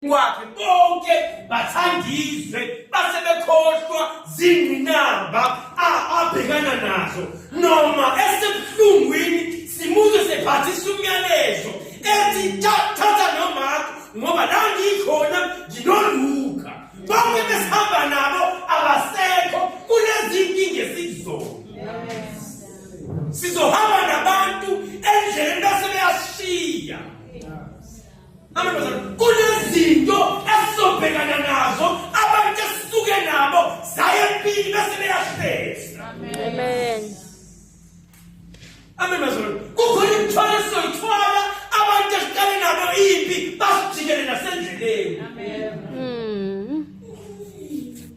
kwakhe bonke bathandizwe base bekhohlwa zingqinamba abhekana nazo noma esebuhlungwini simuzwe sephathisa umyalezo ethi thatha nomakho ngoba la ngikhona nginoluka bonke besihamba nabo abasekho kulezi nkinga esizona sizohamba nabantu endleleni base beyashiya Amantombazane kunezinto esizobhekana nazo abantu esisuke nabo zaye empini bese beyahlezi. Amen. Amen bazalwane. Kukhona imithwalo esizoyithwala abantu esiqale nabo impi basijikele nasendleleni. Amen.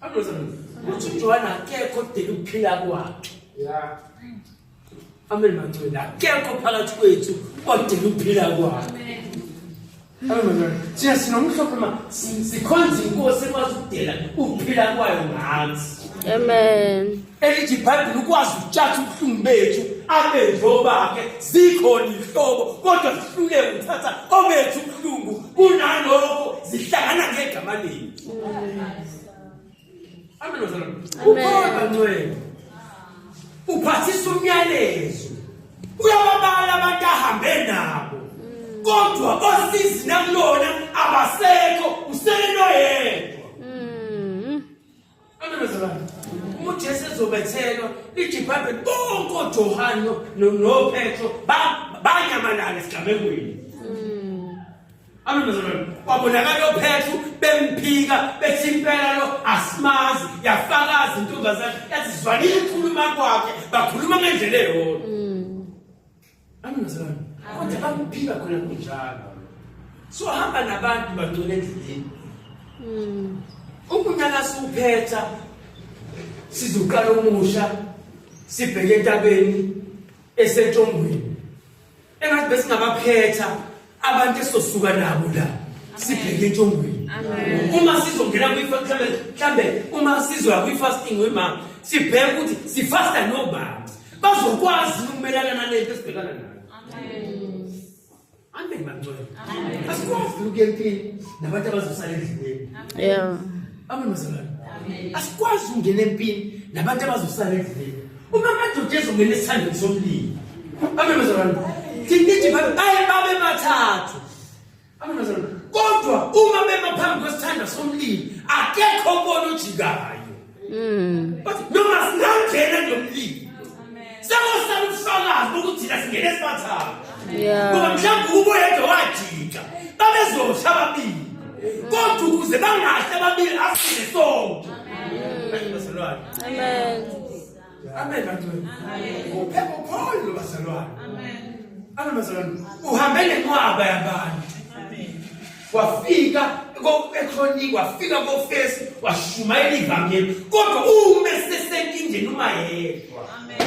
Adoza ukuthi uJohane akekho odela ukuphila kwakhe. Yeah. Amen mangcwele akekho phakathi kwethu odela ukuphila kwakhe. Amen mangcwele. Siya sinomhlophe ma sikhonza inkosi ekwazi ukudela ukuphila kwayo ngathi. Amen. elithi ibhayibhile ukwazi ukutshatha ubuhlungu bethu abenzi obakhe zikhona ihlobo kodwa sihluleke ukuthatha obethu ubuhlungu kunalokho zihlangana ngegama lenu amen ukhona ncwele uphathisa umyalezo uyababala abantu ahambe nabo kodwa osizi nakulona abasekho usele noyedwa uJesu ezobethelwa ijibhabhe bonke oJohane noPetro banyamalala esigamekweni hmm. amemezalwane kwabonakala ophethu bemphika bethi impela lo asimazi yafakaza intombazane yathi zwanile ikhuluma kwakhe bakhuluma ngendlela eyodwa hmm. Amnazana. Kodwa bakuphika khona kunjalo. So hamba nabantu bangcwele endleleni. Mm. Ukunyaka siwuphetha sizoqala umusha sibheke entabeni esentshongweni. Engathi besingabaphetha abantu esosuka nabo la sibheke entshongweni uma sizongena kwi-family mhlambe uma sizoya kwi-fasting wemama sibheke ukuthi sifasta nobaba bazokwazi ukumelana nalento esibhekana nayo amen bangcwele asikwazi ukuya empini nabantu abazosala endleleni amen bazalwane asikwazi ukungena empini nabantu abazosala endleleni Uma amadoda ezongena esithandweni somlilo. Abemazalwane. Thinithi babe baye babe bathathu. Abemazalwane. Kodwa uma bema phambi kwesithanda somlilo akekho obona ojikayo. Mm. Bathi noma singangena nomlilo. Sekuhlala ubufakazi bokuthi thina singene esibathathu. Yeah. Ngoba mhlawumbe ubo yedwa wajika. Babezosha ababili. Kodwa ukuze bangahle ababili asile sonke. Amen. Amen. Amen. Amen bantwana. Uphepha ukholo lobazalwane. Amen. Amen bazalwane. Uhambe nenqwaba yabantu. Amen. Wafika ekhroniki wafika kofesi washumayela ivangeli kodwa ume sesenkingeni uma yedwa. Amen.